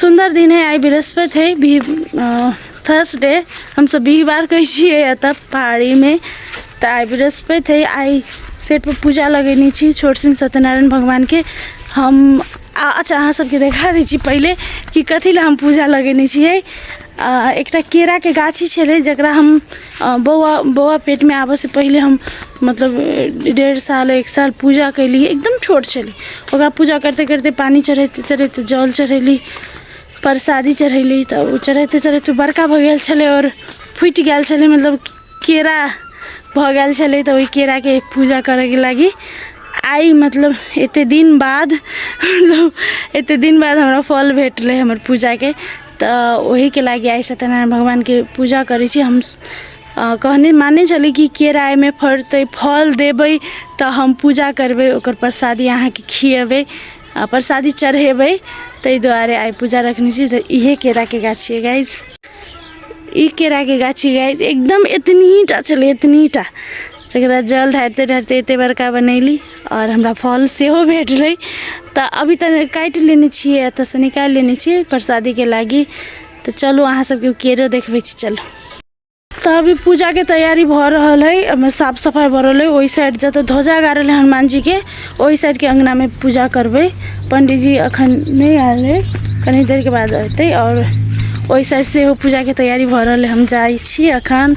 सुन्दर दिन है आइ बृहस्पति है भी थर्सडे हमसब बिहिबार कहै छियै एतऽ पहाड़ीमे तऽ आइ बृहस्पति है आइ सेटपर पूजा लगेने छी छोट सिंह सत्यनारायण भगवानके हम आ अच्छा अहाँ सबके देखा दै छी पहिले कि कथी लए हम पूजा लगेने छियै आ, एकटा केरा के गाछी छलै जकरा हम आ, बौआ बौआ पेट में आबऽ से पहिले हम मतलब ए, डेढ़ साल एक साल पूजा कैली एकदम छोट छलै ओकरा पूजा करते करते पानी चढ़ैते चढ़ैते जल चढ़ैली परसादी चढ़ैली तऽ ओ चढ़ैते चढ़ैते बड़का भऽ गेल छलै आओर फुटि गेल छलै मतलब केरा भऽ गेल छलै तऽ ओहि केराके पूजा करैके लागी आइ मतलब एते दिन बाद मतलब एते दिन बाद हमरा फल भेटलै हमर पूजाके तऽ ओहिके लागि आइ सत्यनारायण भगवानके पूजा करै छी हम अ, कहने माने छली कि केरा एहिमे फड़तै फल देबै तऽ हम पूजा करबै ओकर प्रसादी अहाँके खियेबै आ प्रसादी चढ़ेबै ताहि दुआरे आइ पूजा रखने छी तऽ इहे केराके गाछ छियै गाइज ई केराके गाछी गाइज एकदम एतनीटा छलै एतनीटा तकरा जल ढारिते ढारिते एते बड़का बनैली आओर हमरा फल सेहो भेटलै तऽ अभी तऽ काटि लेने छियै एतऽसँ निकालि लेने छियै प्रसादीके लागी तऽ चलू अहाँ सबके केरो देखबै छी चलू तऽ अभी पूजाके तैयारी भऽ रहल है ओहिमे साफ सफाइ भऽ रहल है ओहि साइड जतऽ ध्वजा गाड़ल है हनुमानजीके ओहि साइडके अङ्गनामे पूजा करबै पंडीजी अखन नहि आयल है कनी देरके बाद अयतै आओर ओहि साइड सेहो पूजाके तैयारी भऽ रहल है हम जाइ छी अखन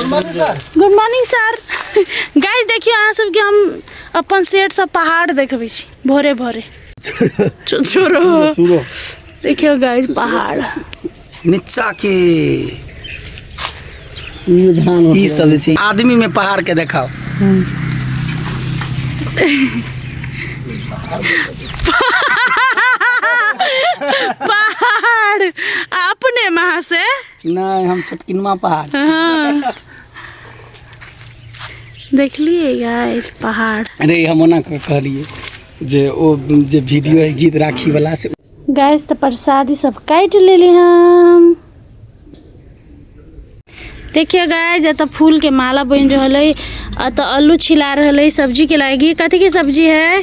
गुड मॉर्निंग सर गाइस देखियो अहाँ सबके हम अपन सेठ सब पहाड़ देखबै छी भोरे भोरे चो- छोड़ो देखियो गाइस पहाड़ नीचा के ई सब जे छै आदमी में पहाड़ के देखाओ पहाड़ आ अपने महा से नहि हम छोटकिनमा पहाड़ हँ देखलियै गाइस पहाड़ अरे हम ओना कऽ कहलियै जे ओ जे वीडियो है गीत राखी वाला से गैस तऽ प्रसादी सब काटि लेली हम देखियो गाय जतऽ फूल के माला बनि रहल है अतऽ आलू छिला रहल है सब्जी के लागी कथी के सब्जी है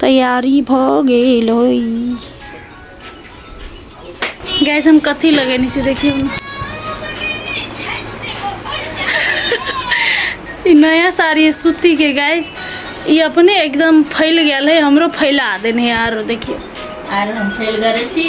तैयारी भ गेल होई गैस हम कथी लगेने छी देखियो ना ई नया साड़ी है सूती के गैस ई अपने एकदम फैल गेल है हमरो फैला देने है आरो देखियो आर हम फेल करे छी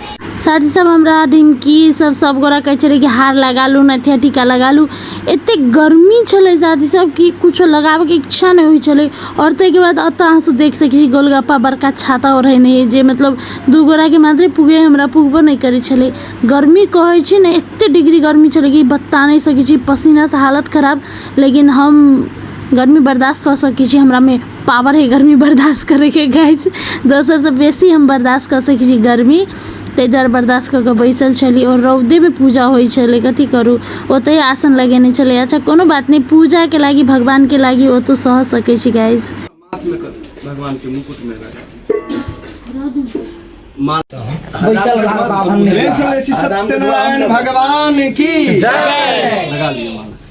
साथी सब हमरा दिन की सब सब गोरा कहै छलै कि हार लगा लू नथिया टीका लगा लू एते गर्मी छलै साथी सब कि कुछो लगाबैके इच्छा नहि होइ छलै आओर ताहिके बाद एतऽ अहाँ सब देख सकै छी गोलगप्पा बड़का छाता ओढ़ेने अइ जे मतलब दू गोराके मात्रे पुगे हमरा पुगबो नहि करै छलै गर्मी कहै छी ने एते डिग्री गर्मी छलै कि बता नहि सकै छी पसीनासँ हालत खराब लेकिन हम गर्मी बर्दाश्त कऽ सकै छी हमरामे पावर है गर्मी बर्दाश्त करैके गाइज दोसरसँ बेसी हम बर्दाश्त कऽ सकै छी गर्मी ताहि दुआरे बर्दाश्त कऽ कऽ बैसल छली आओर रौदेमे पूजा होइ छलै कथी करू ओतहि आसन लगेने छलै अच्छा कोनो बात नहि पूजाके लागी भगवानके लागी ओ तऽ सह सकै छी गाइज भगवानके मुकुटमे बैसल रहा बाभन में। प्रेम से बोले श्री सत्यनारायण भगवान की जय लगा लिया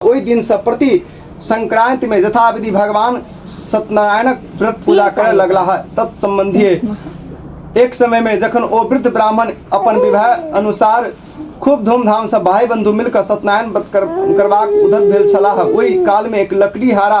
ओहि दिनसँ प्रति संक्रान्तिमे यथाविधि भगवान सत्यनारायणक व्रत पूजा करय लगला है तत्सम्बन्धी एक समयमे जखन ओ वृद्ध ब्राह्मण अपन विवाह अनुसार खूब धूमधामसँ भाई बन्धु मिलकर सत्यनारायण व्रत कर, करबाक उद्धत भेल छलाह ओहि कालमे एक लकड़ी हारा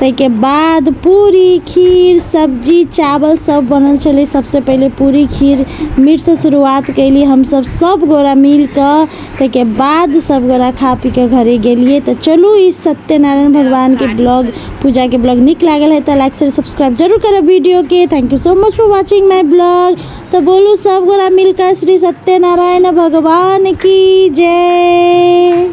ताहिके बाद पूरी खीर सब्जी चावल सब बनल छलै सबसँ पहिले पूरी खीर मीठसँ शुरुआत कएली हमसब सब गोरा मिलिके ताहिके बाद सब गोरा खा पीके घरे गेलिए तऽ चलू ई सत्यनारायण भगवानके ब्लॉग पूजाके ब्लॉग नीक लागल है तऽ लाइक शेयर सब्सक्राइब जरूर करब वीडियोके thank you so much for watching my blog तऽ बोलू सब गोरा मिलके श्री सत्यनारायण भगवान की जय